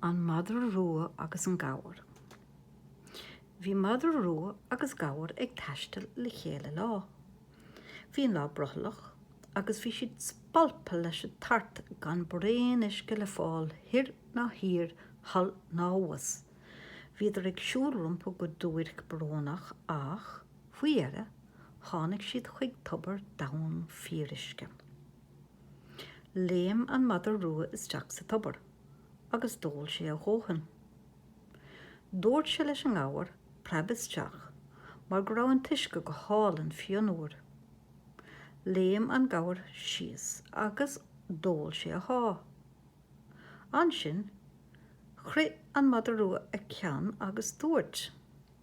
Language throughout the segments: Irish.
An madra rua agus an gabhar. Bhí madra rua agus gabhar ag taisteal le chéile lá. Bhí an lá brothallach agus bhí siad spalptha leis an tart gan braon uisce le fáil thoir ná thiar, thall ná abhus. Bhíodar ag siúl rompu go duairc brónach ach, faoi dheireadh, tháinig siad chuig tobar domhain fíoruisce. Léim an madra rua isteach sa tobar agus d'ól sé a dhóthain. Dúirt sé leis an ngabhar preab isteach mar go raibh an t-uisce go hálainn fionnuar. Léim an gabhar síos agus d'ól sé a sháith. Ansin chroith an madra rua a cheann agus dúirt.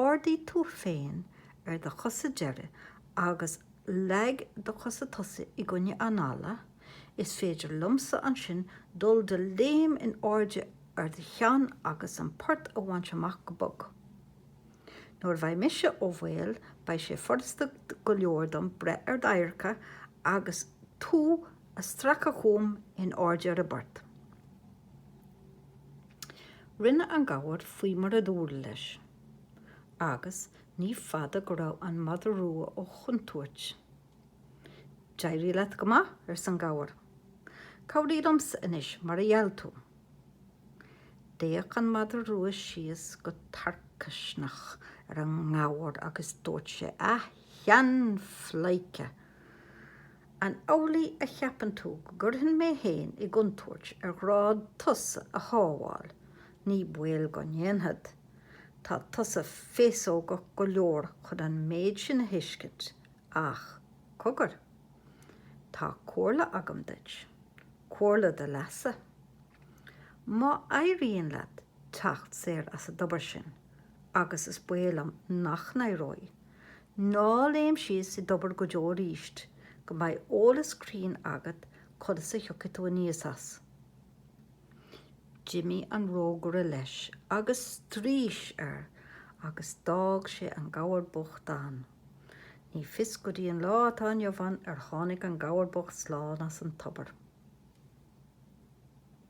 Ardaigh tú féin ar do chosa deiridh agus leag do chosa tosaigh i gcoinne an fhalla, is féidir liomsa ansin dul de léim in airde ar do cheann agus an port a bhaint amach go bog. Nuair a bheidh mise ó bhaol beidh sé furasta go leor dom breith ar d'adharca agus tú a stracadh chugam in airde ar an bport. Rinne an gabhar faoi mar a dúradh leis, agus ní fada go raibh an mada rua ó chontúirt. D'éirigh leat go maith, arsa an gabhar. Cabhraigh liomsa anois, mar a gheall tú. D'fhéach an mada rua síos go tarcaisneach ar an ngabhar agus dúirt sé, A sheanphleidhce! An amhlaidh a cheapann tú go gcuirfinn mé féin i gcontúirt ar ghrá tusa a shábháil? Ní baol go ndéanfad. Tá tusa féasógach go leor chun an méid sin a thuiscint. Ach cogar. Tá comhairle agam duit. Comhairle do leasa. Má éiríonn leat teacht saor as an dtobar sin, agus is baol liom nach n-éireoidh, Ná léim síos i dtobar go deo arís go mbeidh eolas cruinn agat conas a thiocfaidh tú aníos as. D'imigh an rógaire leis agus straois air agus d'fhág sé an gabhar bocht ann. Ní fios go dtí an lá atá inniu ann ar tháinig an gabhar bocht slán as an tobar.